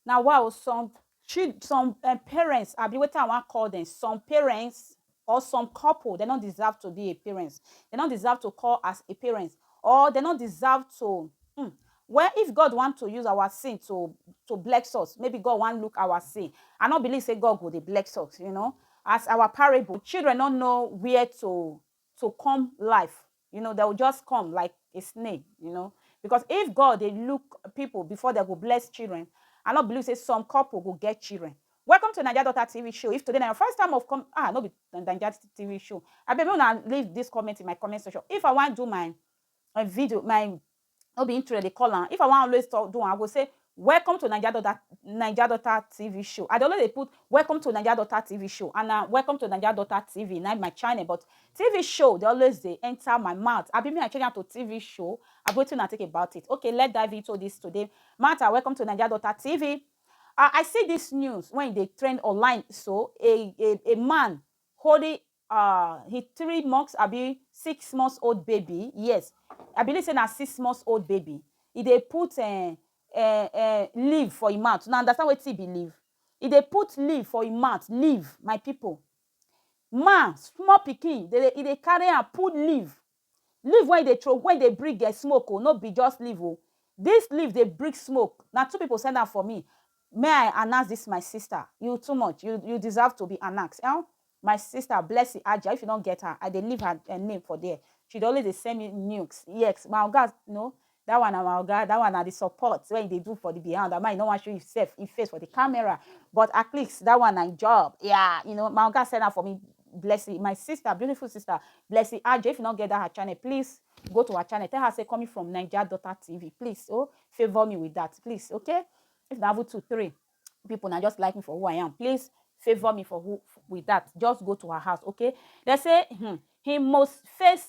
Na wa o some chil some um parents abi wetin I wan call dem some parents or some couple dem no deserve to be a parents dem no deserve to call as a parents or dem no deserve to um well if God want to use our sin to to bless us maybe God wan look our sin I no believe sey God go dey bless us you know as our parable children no know where to to come life you know they will just come like a snake you know because if god they look people before they go bless children i not believe say some couple go get children welcome to naija daughter tv show if today na your first time of come ah no be naija tv show I abeg una leave this comment in my comment section if i want do my my video my No be intro dem dey call am. If I wan always talk do am, I go say Welcome to Naija Daughter Naija Daughter TV Show. I dey always dey put Welcome to Naija Daughter TV Show and na Welcome to Naija Daughter TV na im be my channel but TV show dey always dey enter my mouth. Abi me I change am to TV show? Abi wetin una think about it? Okay, let's dive into this today matter. Welcome to Naija Daughter TV. I see this news when e dey trend online so, a a a man holding ah he three months abi six months old baby yes i believe say na six months old baby e dey put um um um leave for im mouth una understand wetin be leave e dey put leave for im mouth leave my people ma small pikin dey e dey carry am put leave Leaf wen you dey throw wen dey bring um smoke o no be just leaf o this leaf dey bring smoke na two people send am for me may i announce this my sister you too much you you deserve to be announce um my sister Blessing Ajah if you no get her i dey leave her name for there she dey always dey send me nukes yes my oga no That one na my oga, that one na the support wey he dey do for the behind ama he no wan show himself, him face for the camera but at least that one na him job, yeah you know my oga send am for me Blessy my sister beautiful sister Blessy Ajo if you no get that her channel please go to her channel tell her say coming from Naija daughter TV please oh favour me with that please okay if na even two three people na just like me for who I am please favour me for who with that just go to her house okay dem say hmm him most face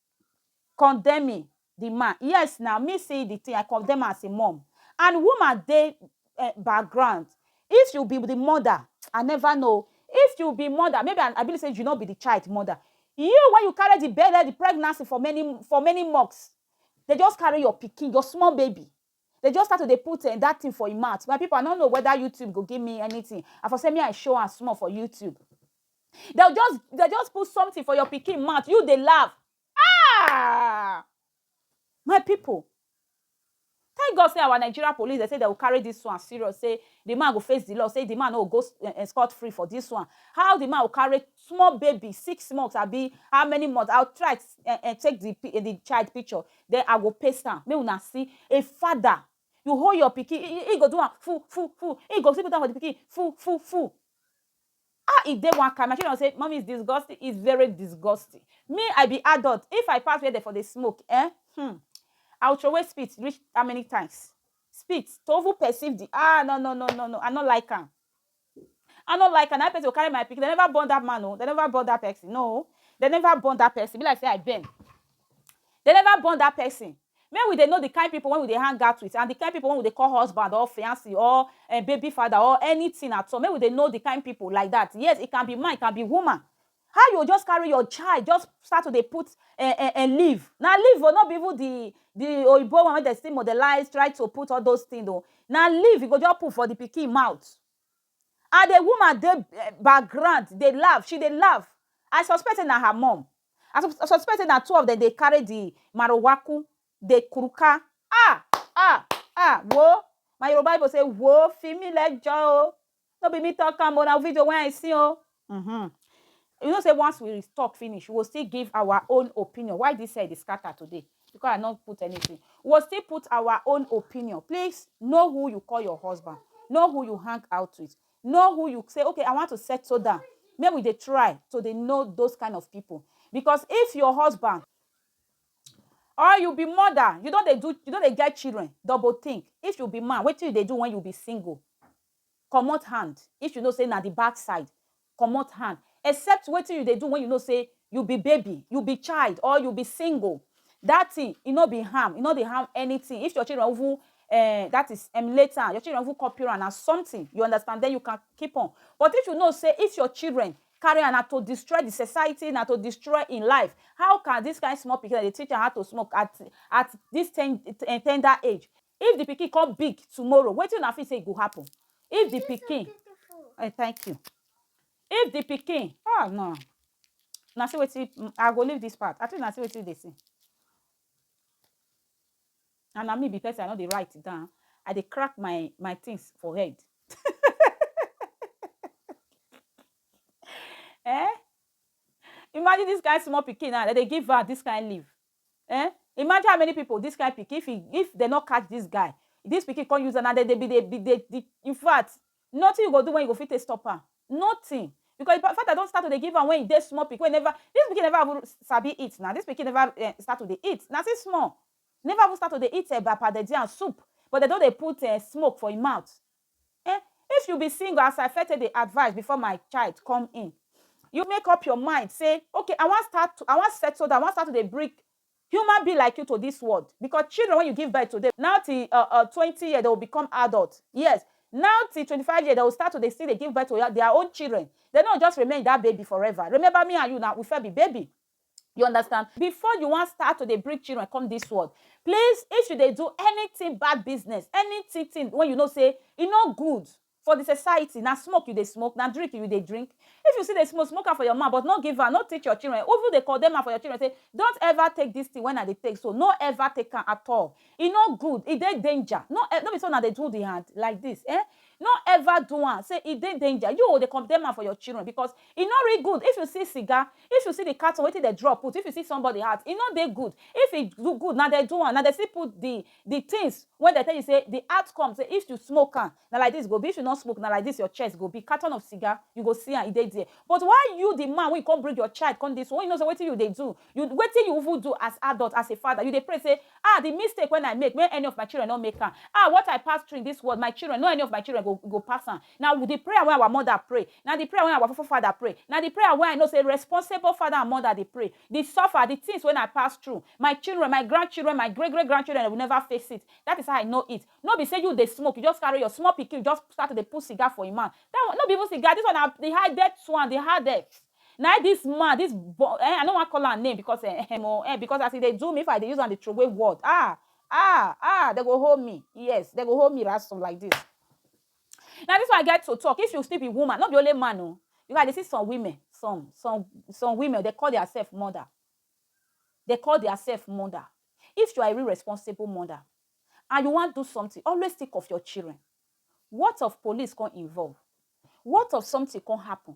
condemning di man yes na me see di tin I condemn am as a mum and woman dey background if you be di mother I never know o if you be mother maybe I believe say you no be di child mother you wey you carry di belle di pregnancy for many for many months dey just carry your pikin your small baby Dey just start to dey put um that thing for im mouth. My people, I no know whether YouTube go give me anything. I for say me I show am small for YouTube. Dem just dem just put something for your pikin mouth, you dey laugh. Ah! My people, thank God say our Nigeria police, dem say dem go carry this one serious, say the man go face the law, say the man no go go um scot free for this one. How the man go carry small baby, six months abi how many months, I try um um take the the child picture, Then I go paste am make una see a father you hold your pikin he he go do am fu fu fu he go still put am for the pikin fu fu fu ah e dey one kind my children go say mummy is disgusting is very disgusting me I be adult if I pass where dem for dey smoke eh hmm I will throway spit reach how many times spit to even perceive the ah no no no no no I no like am. I no like am na why person go carry my pikin dem never born that man oo dem never born that person no dem never born that person e be like say I bend dem never born that person make we dey know the kind people wey we dey hang out with and the kind people wey we dey call husband or fiancee or um baby father or anything at all make we dey know the kind people like that yes it can be man it can be woman How you go just carry your child just start to dey put eh, eh, eh, leave. Na leave o, no be even the the oyibo one wey dem still modelize, try to put all those things o. Na leave you go just put for the pikin mouth. And the woman dey eh, background dey laugh, she dey laugh. I suspect say na her mum. I sus- suspect say na two of them dey carry the marowaku, dey kuruka. Ah! Ah! Ah! Wo! My Yoruba people say, wo, fi mi lẹjọ o. no be me talk am o na video wey I see o mm-hmm. you know say once we talk finish we go still give our own opinion why this head dey scatter today because I no put anything we go still put our own opinion please know who you call your husband know who you hang out with know who you say okay I want to settle down make we dey try to dey know those kind of people because if your husband or you be mother you don dey do you don dey get children double think if you be man wetin you dey do when you be single Comot hand if you know say na the back side comot hand except wetin you dey do when you know say you be baby, you be child or you be single that thing e no be harm e no dey harm anything if your children even um that is emulate am your children even copy am na something you understand then you can keep on but if you know say if your children carry am na to destroy the society na to destroy him life how can this kind small pikin dem dey teach am how to smoke at at this ten tender age If the pikin come big tomorrow, wetin una feel say e go happen? If the pikin, eh, thank you. If the pikin, ah no, na see wetin mm, I go leave this part. I think na see wetin dey see. And na me be person I no dey write it down. I dey crack my my things for head. eh? Imagine this kind small pikin now, dem dey give her this kind leaf. Ehn imagine how many people this kind pikin if he if dem no catch this guy this pikin come use am na dem dey be dey be dey the infact nothing you go do when you go fit take stop am nothing because the father don start to dey give am when he dey small pikin wey he never this pikin never even sabi eat na this pikin never eh start to dey eat na still small never even start to dey eat eba pounded yam soup but dem don dey put eh smoke for him mouth Eh, if you be single as I fete dey advice before my child come in, you make up your mind say okay I wan start to, I wan settle down, I wan start to dey bring human being like you to this world because children wey you give birth to dem now till uh uh twenty years dem go become adult, yes now till twenty five years dem go start to dey still dey give birth to their own children, dem no go just remain that baby forever, remember me and you na we first be baby. You understand? Before you wan start to dey bring children come this world, please, if you dey do anything bad business, anything thing when you know say e no good for the society, na smoke you dey smoke, na drink you dey drink. If you still dey smoke, smoke am for your mouth, but no give am, no teach your children, even dey condemn am for your children say, don't ever take this thing when I dey take so, no ever take am at all. E no good, e dey danger. No, no be so una dey do the hand like this, eh? No ever do am say e dey danger, you o dey condemn am for your children because e no real good if you see cigar, if you see the carton wetin dem draw put, if you see somebody hat e no dey good, if e do good na dem do am, na dem still put the the things wey dem tell you say the outcome say if you smoke am na like this e go be, if you no smoke na like this your chest go be, carton of cigar you go see am e dey there but why you the man wey you come bring your child come this world wey you know say wetin you dey do You wetin you even do as adult, as a father, you dey pray say, Ah, the mistake when I make, may any of my children no make am. Ah, what I pass through in this world, my children, no any of my children go go pass am. Na the prayer wey our mother pray, na the prayer wey our forefather pray, na the prayer wey I know say responsible father and mother dey pray. The suffer, the things when I pass through, my children, my grandchildren, my great great grandchildren, they will never face it. That is how I know it. No be say you dey smoke, you just carry your small pikin, just start to dey put cigar for im mouth. That one, no be even cigar, this one na the hardest one, the hardest. Na im this man, this bo eh, I no wan call am name because eh ehem o eh, because as e dey do me, if I dey use am dey throway word ah ah ah, dem go hold me, yes, dem go hold me ransom like this. Na this one I get to talk, if you still be woman, no be only man o, because I dey see some women, some, some, some women dem call their self mother, dem call their self mother, if you are a real responsible mother and you wan do something, always think of your children, what of police come involve, what of something come happen,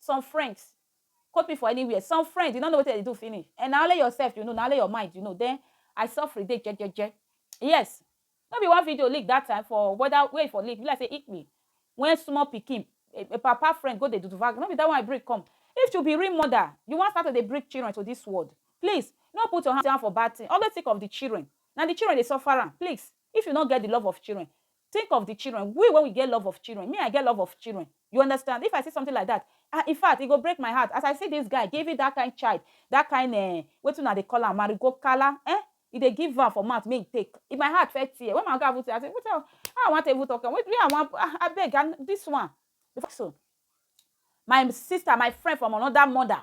Some friends, quote me for anywhere, some friends you no know wetin dem dey do finish eh, na only yourself you know, na only your mind you know then I sofri dey jejeje yes no be one video leak that time for whether where e for leak e be like say Italy when small pikin a papa friend go dey do vag no be that one I bring come if to be real mother you wan start to dey bring children to this world please no put your hand for bad thing always think of the children na the children dey suffer am please if you no get the love of children Think of the children, we wey we get love of children, me I get love of children, you understand, if I see something like that ah infact e go break my heart, as I see this guy giving that kind child that kind eh wetin una dey call am marigo kala eh e dey give am for mouth make e take, if my heart first tear when my oga even say, I say wetin how I wan take even talk am, where I wan ah abeg and this one, my sister, my friend from another mother